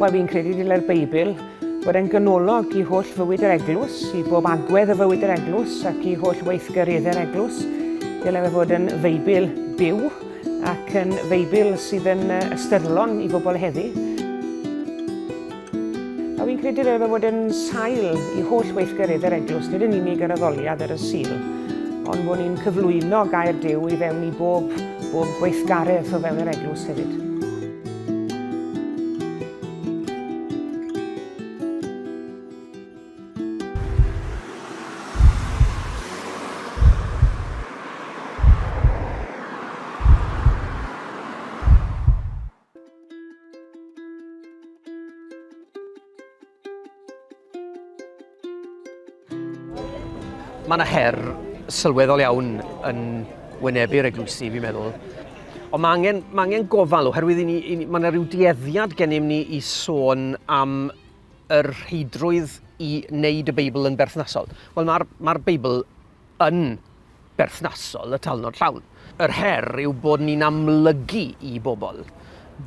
Wel, fi'n credu dylai'r Beibl fod yn ganolog i holl fywyd yr eglwys, i bob agwedd o fywyd yr eglwys ac i holl weithgareddau'r eglwys. Dylai fe fod yn Feibl byw Ac yn Feibl sydd yn ystyrlon i bobl heddi. A fi'n credu rhaid fod yn sail i holl weithgarydd yr eglwys, nid yn unig yr addoliad ar y sil, ond bod ni'n cyflwyno gair Dyw i fewn i bob, bob gweithgaredd o fewn yr eglwys hefyd. Mae yna her sylweddol iawn yn wynebu'r eglwysi, fi'n meddwl. Ond mae angen, mae angen gofal oherwydd i ni, i ni, mae yna rhyw dueddiad gennym ni i sôn am yr rheidrwydd i wneud y Beibl yn berthnasol? Wel, mae'r ma Beibl yn berthnasol y talnod llawn. Yr her yw bod ni'n amlygu i bobl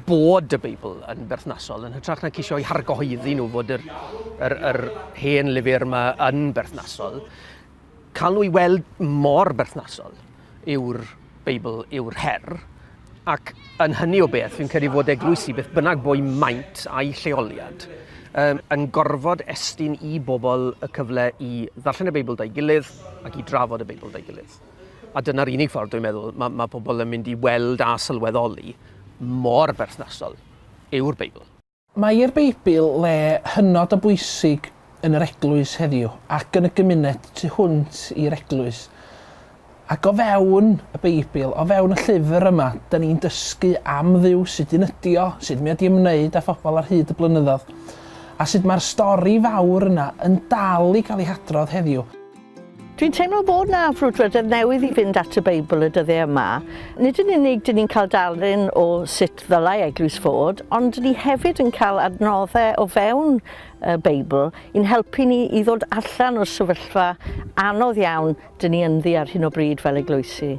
bod y Beibl yn berthnasol, yn hytrach na ceisio i hargohyddi nhw fod yr, yr, yr hen lyfr yma yn berthnasol. Cael nhw i weld mor berthnasol yw'r Beibl yw'r her, ac yn hynny o beth, fi'n credu fod eglwysi, beth bynnag bo'i maint a'i lleoliad, um, yn gorfod estyn i bobl y cyfle i ddarllen y Beibl da'i gilydd ac i drafod y Beibl da'i gilydd. A dyna'r unig ffordd, dwi'n meddwl, mae, mae pobl yn mynd i weld a sylweddoli mor berthnasol yw'r Beibl. Mae'r Beibl le hynod o bwysig yn yr eglwys heddiw ac yn y gymuned tu hwnt i'r eglwys. Ac o fewn y Beibl, o fewn y llyfr yma, dyn ni'n dysgu am Dduw, sut un ydi o, sut mi ydi ymwneud â phobl ar hyd y blynyddoedd, a sut mae'r stori fawr yna yn dal i gael ei hadrodd heddiw. Dwi'n teimlo bod 'na frwdfrydedd newydd i fynd at y Beibl y dyddiau yma. Nid yn unig dyn ni'n cael darlun o sut ddylai eglwys fod, ond dyn ni hefyd yn cael adnoddau o fewn y Beibl i'n helpu ni i ddod allan o'r sefyllfa anodd iawn dyn ni ynddi ar hyn o bryd fel eglwysi.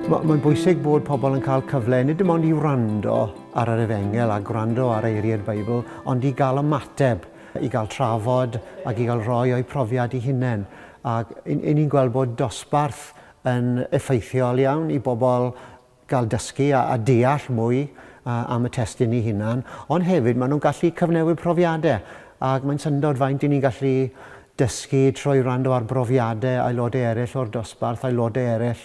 Mae'n bwysig bod pobl yn cael cyfle nid dim ond i wrando ar yr efengel a gwrando ar eiriau'r Beibl, ond i gael ymateb, i gael trafod ac i gael rhoi o'i profiad i hunain. Ac ni'n gweld bod dosbarth yn effeithiol iawn i bobl gael dysgu a deall mwy am y testun ei hunan, ond hefyd maen nhw'n gallu cyfnewid profiadau, ac mae'n syndod faint y'n ni'n gallu dysgu trwy wrando ar brofiadau aelodau eraill o'r dosbarth, aelodau eraill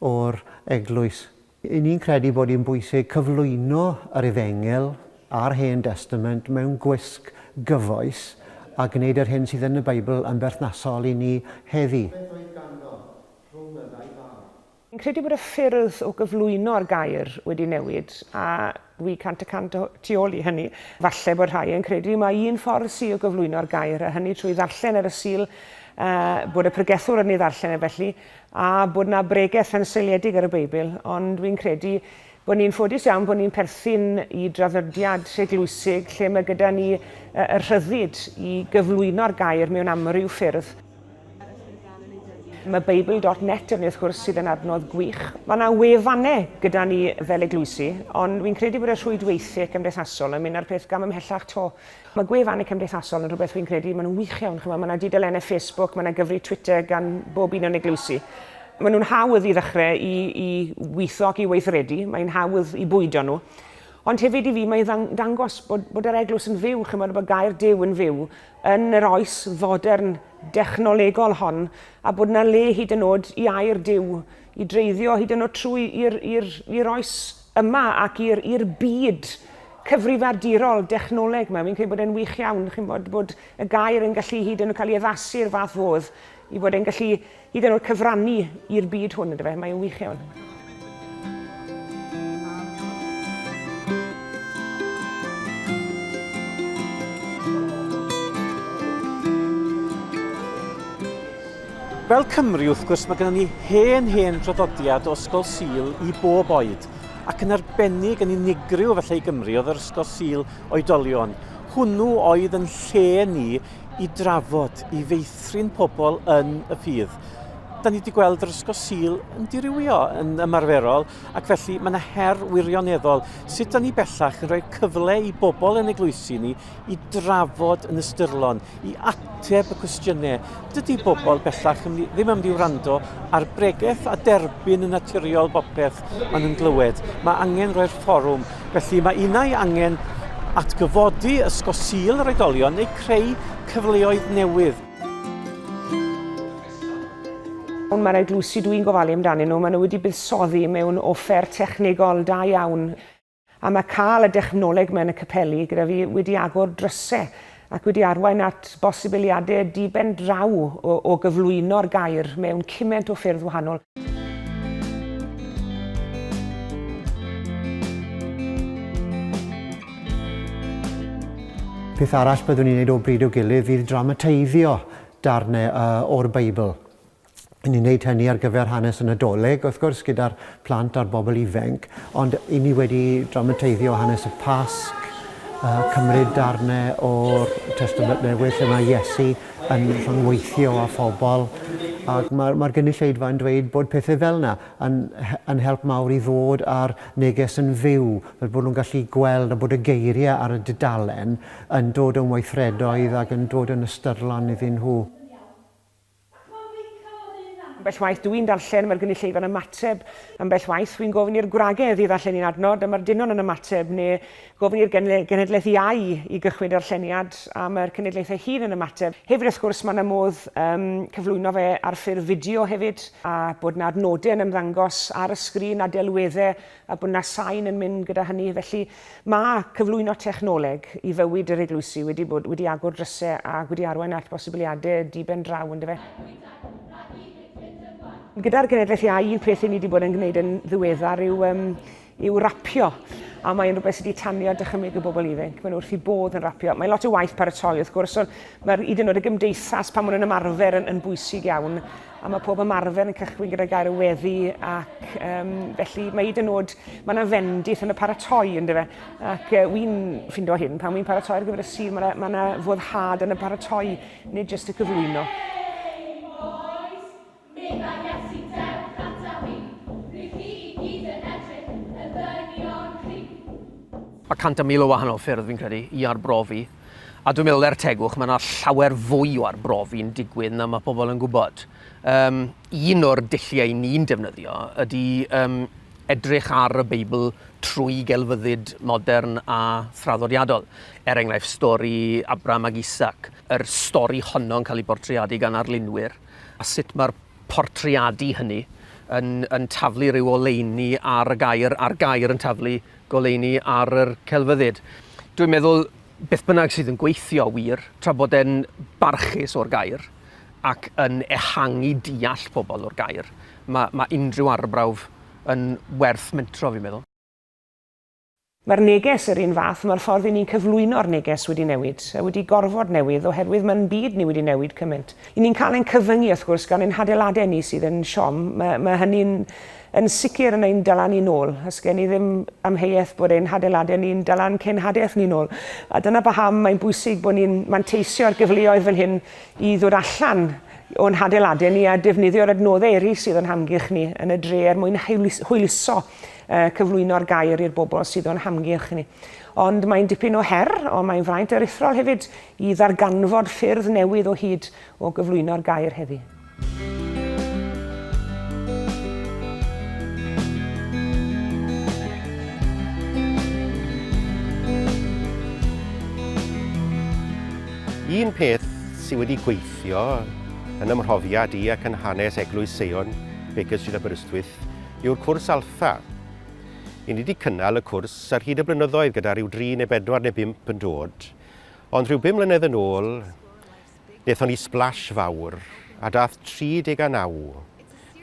o'r eglwys. Y'n ni'n credu bod hi'n bwysig cyflwyno yr Efengyl a'r Hen Destament mewn gwisg gyfoes a gwneud yr hyn sydd yn y Beibl yn berthnasol i ni heddi. Fi'n credu bod y ffyrdd o gyflwyno'r gair wedi newid, a dwi cant y cant o tu ôl i hynny. Falle bod rhai yn credu mai un ffordd sy o gyflwyno'r gair, a hynny trwy ddarllen ar y Sul, bod y pregethwr yn ei ddarllen e felly, a bod 'na bregeth yn seiliedig ar y Beibl, ond dwi'n credu bod ni'n ffodus iawn bod ni'n perthyn i draddodiad eglwysig lle mae gyda ni y rhyddid i gyflwyno'r gair mewn amryw ffyrdd. Mae Bible.net yn wrth gwrs sydd yn adnodd gwych. Mae yna wefannau gyda ni fel eglwysi, ond fi'n credu bod y rhwydweithiau cymdeithasol yn mynd â'r peth gam ymhellach to. Mae gwefannau cymdeithasol yn rhywbeth rwy'n credu, maen nhw'n wych iawn, chimod, mae yna dudalennau Facebook, mae yna gyfrif Twitter gan bob un o'n eglwysi. Maen nhw'n hawdd i ddechrau i, i weithio ac i weithredu, mae'n hawdd i bwydo nhw. Ond hefyd i fi mae'n ddang- dangos bod, bod yr eglwys yn fyw, chimod, bod gair Duw yn fyw yn yr oes fodern dechnolegol hon, a bod yna le hyd yn oed i air Duw i dreiddio hyd yn oed trwy i'r, i'r, i'r oes yma ac i'r i'r byd cyfrifiadurol dechnoleg 'ma. Fi'n credu bod e'n wych iawn, chi'n bod, bod y gair yn gallu hyd yn oed cael ei addasu i'r fath fodd, i fod e'n gallu hyd yn oed cyfrannu i'r byd hwn, ynddo fe. Mae'n wych iawn. Fel Cymry, wrth gwrs, mae gennym ni hen, hen draddodiad o Ysgol Sul i bob oed, ac yn arbennig yn unigryw felly i Gymru oedd yr Ysgol Sul Oedolion. Hwnnw oedd yn lle ni i drafod, i feithrin pobl yn y ffydd. Da ni wedi gweld yr Ysgol Sul yn dirywio yn ymarferol, ac felly mae yna her wirioneddol sut da ni bellach yn rhoi cyfle i bobl yn eglwysi ni i drafod yn ystyrlon, i ateb y cwestiynau. Dydy bobl bellach ddim am di wrando ar bregeth a derbyn yn naturiol bopeth maen nhw'n glywed. Mae angen rhoi'r fforwm. Felly mae unau angen atgyfodi ysgosil yr oedolion neu creu cyfleoedd newydd. Ond mae'r eglwysi dwi'n gofalu amdanyn nhw, maen nhw wedi buddsoddi mewn offer technegol da iawn A mae cael y dechnoleg yma yn y capeli gyda fi wedi agor drysau ac wedi arwain at bosibiliadau di-ben draw o, o gyflwyno'r gair mewn cymaint o ffyrdd wahanol. Peth arall byddwn i'n ei wneud o bryd i'w gilydd fydd dramatiaiddio darnau o'r Beibl. i ni wneud hynny ar gyfer hanes y Nadolig, wrth gwrs, gyda'r plant a'r bobl ifainc, ond i ni wedi dramateiddio hanes y Pasg, uh, cymryd darnau o'r Testament Newydd lle mae Iesu yn rhyngweithio â phobl, ac mae'r mae gynulleidfa yn dweud bod pethau fel yna yn, yn help mawr i ddod â'r neges yn fyw, fel bod nhw'n gallu gweld a bod y geiriau ar y dudalen yn dod yn weithredoedd ac yn dod yn ystyrlon iddyn nhw. Ambell waith dw i'n darllen, mae'r gynulleidfa'n ymateb. Ambell waith, wi'n gofyn i'r gwragedd i ddarllen un adnod, a mae'r dynon yn ymateb, neu gofyn i'r genhedlaeth iau i gychwyn darlleniad, a mae'r cenedlaeth ei hun yn ymateb. Hefyd, wrth gwrs, mae 'na modd um, cyflwyno fe ar ffurf fideo hefyd, a bod 'na adnodau yn ymddangos ar y sgrin a delweddau a bod 'na sain yn mynd gyda hynny. Felly, mae cyflwyno technoleg i fywyd yr eglwysi wedi bod wedi agor drysau ac wedi arwain at bosibiliadau diben draw, yn dyfe? Gyda'r genedlaeth iau, un peth i ni wedi bod yn gwneud yn ddiweddar yw, um, yw rapio a mae'n rhywbeth sydd wedi tanio dychymyg y bobl ifanc. Mae'n wrth i bodd yn rapio. Mae lot o waith paratoi wrth gwrs, ond mae'r hyd yn oed y gymdeithas pan maen nhw'n ymarfer yn, yn bwysig iawn. a mae pob ymarfer yn cychwyn gyda gair y weddi ac um, felly mae hyd yn oed, mae yna fendith yn y paratoi ynddo fe ac uh, wy'n ffindo hyn pan wy'n paratoi ar gyfer y sir mae yna foddhad yn y paratoi nid jyst y cyflwyno. Mae cant a mil o wahanol ffyrdd fi'n credu i arbrofi A dwi'n meddwl, er tegwch, mae yna llawer fwy o arbrofi'n digwydd na mae pobl yn gwybod. Um, un o'r dulliau ni'n defnyddio ydy um, edrych ar y Beibl trwy gelfyddyd modern a thraddodiadol. Er enghraifft, stori Abram ac Isaac, yr stori honno'n cael ei bortreadu gan arlunwyr, a sut mae'r portreadu hynny yn, yn taflu rhyw oleuni ar y gair, a'r gair yn taflu goleuni ar yr celfyddyd. Dwi'n meddwl beth bynnag sydd yn gweithio wir, tra bod e'n barchus o'r gair ac yn ehangu deall pobl o'r gair, mae, mae unrhyw arbrawf yn werth mentro fi'n meddwl. Mae'r neges yr un fath, mae'r ffordd i ni'n cyflwyno'r neges wedi newid, a wedi gorfod newid, oherwydd mae'n byd ni wedi newid cymaint. I ni'n cael ein cyfyngu wrth gwrs gan ein hadeiladau ni sydd yn siom, mae, mae hynny'n Yn sicr yn ein dala ni'n ôl. Os gen i ddim amheuaeth bod ein hadeiladau ni'n dala ein cenhadaeth ni'n ôl. A dyna paham mae'n bwysig bod ni'n manteisio'r gyfleoedd fel hyn i ddod allan o'n hadeiladau ni a defnyddio'r adnoddau eraill sydd o'n hamgylch ni yn y dre er mwyn hwyluso a cyflwyno'r gair i'r bobl sydd o'n hamgylch ni. Ond mae'n dipyn o her, ond mae'n fraint aruthrol hefyd i ddarganfod ffyrdd newydd o hyd o gyflwyno'r gair heddi. Un peth sydd wedi gweithio yn ymhrofiad i ac yn hanes Eglwys Seion, Baker Street Aberystwyth, yw'r cwrs Alpha. I ni wedi cynnal y cwrs ar hyd y blynyddoedd gyda rhyw dri neu bedwar neu bump yn dod, ond rhyw bum mlynedd yn ôl, Daethon ni splash fawr, a daeth 39.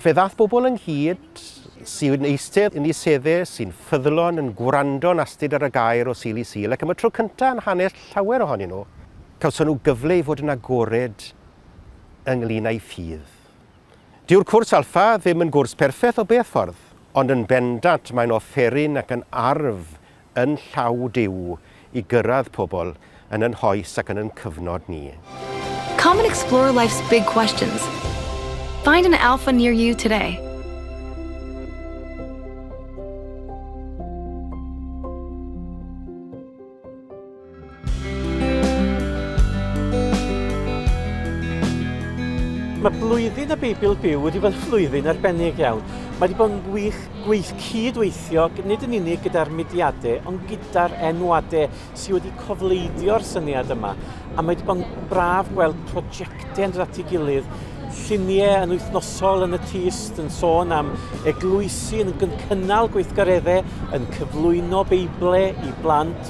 Fe ddaeth bobl ynghyd sy'n eistedd yn eu sedde, sy'n ffyddlon, yn gwrando'n astud ar y gair o Sul i Sul, ac am y tro cyntaf yn hanes llawer ohonyn nhw, cawson nhw gyfle i fod yn agored ynglŷn â'u ffydd. Dyw'r cwrs Alpha ddim yn gwrs perffaith o beth ffordd, ond yn bendant mae'n offeryn ac yn arf yn llaw Duw i gyrraedd pobl yn yn hoes ac yn yn cyfnod ni. Come and explore life's big questions. Find an Alpha near you today. Mae blwyddyn y Beibl Byw wedi bod yn flwyddyn arbennig iawn. Mae wedi bod yn wych gweith cyd-weithio nid yn unig gyda'r mudiadau ond gyda'r enwadau sydd wedi cofleidio'r syniad yma. A mae wedi bod yn braf gweld prosiectau yn dod at ei gilydd, lluniau yn wythnosol yn y tyst yn sôn am eglwysi yn cynnal gweithgareddau, yn cyflwyno Beiblau i blant,